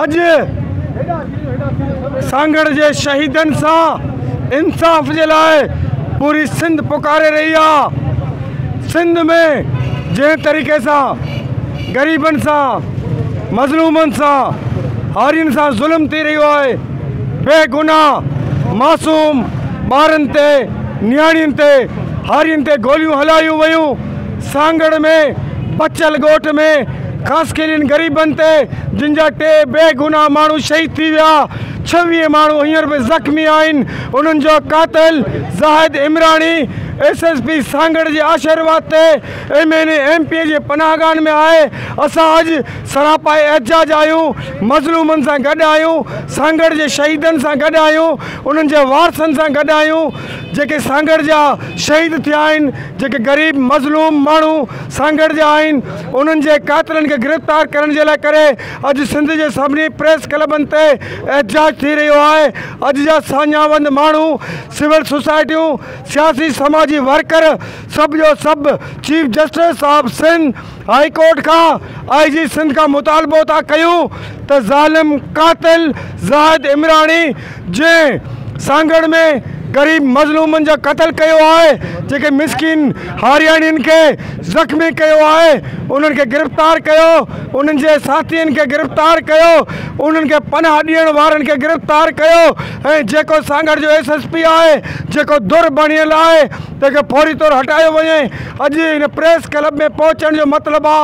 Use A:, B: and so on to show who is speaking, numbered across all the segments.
A: اڄ سانگهڙ جي شهيدن سان انصاف جي لاء پوري سنڌ پڪاري رهي آ سنڌ ۾ جنهن طريقي سان غريبن سان مظلومن سان هارين سان ظلم ٿي رهيو آهي بي گناهه معصوم ٻارن تي نياڻين تي هارين تي گوليون هلايون ويون سانگهڙ ۾ بچل ڳوٺ ۾ خاصخيلين غريبن تي جن جا ٽي بيگناهه ماڻهو شهيد ٿي ويا ڇويهه ماڻهو هينئر به زخمي آهن انهن جو قاتل Zahid Umrani S S P Sanghar جي آشرواد تي M N A M P جي پناهگاهن ۾ آهي اسان اڄ سراپا احتجاج آهيون مظلومن سان گڏ آهيون سانگهڙ جي شهيدن سان گڏ آهيون انهن جي وارثن سان گڏ آهيون. جيڪي سانگهڙ جا شهيد ٿيا آهن، جيڪي غريب مظلوم ماڻهو سانگهڙ جا آهن، انهن جي قاتلن کي گرفتار ڪرڻ جي لاء ڪري اڄ سنڌ جي سڀني پريس ڪلبن تي احتجاج ٿي رهيو آهي، اڄ جا ساڃاهوند ماڻهو، سول سوسائٽيون، سياسي سماجي ورڪر سڀ جو سڀ chief justice of Sindh, high court کان آء جي سنڌ کان مطالبو ٿا ڪيون ته ظالم قاتل زاهد عمراڻي جنهن سانگهڙ ۾ غريب مظلومن جا قتل ڪيو آهي جيڪي مسڪين هارياڻين کي زخمي ڪيو آهي انهن کي گرفتار ڪيو انهن جي ساٿين کي گرفتار ڪيو انهن کي پناهه ڏيڻ وارن کي گرفتار ڪيو ۽ جيڪو سانگهڙ جو ايس ايس پي آهي جيڪو ڌر بڻيل آهي تنهن کي فوري طور هٽايو وڃي. اڄ هن پريس ڪلب ۾ پهچڻ جو مطلب آ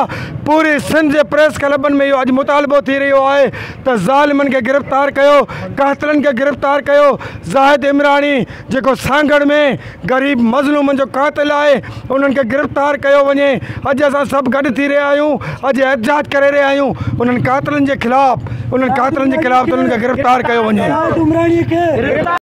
A: پوري سنڌ جي پريس ڪلبن ۾ اهو اڄ مطالبو ٿي رهيو آهي ته ظالمن کي گرفتار ڪيو قاتلن کي گرفتار ڪيو زاهد عمراڻي جيڪو سانگهڙ ۾ غريب مظلومن جو قاتل آهي انهن کي گرفتار ڪيو وڃي اڄ اسان سڀ گڏ ٿي رهيا آهيون اڄ احتجاج ڪري رهيا آهيون انهن قاتلن جي خلاف انهن قاتلن جي خلاف ته انهن کي گرفتار ڪيو وڃي.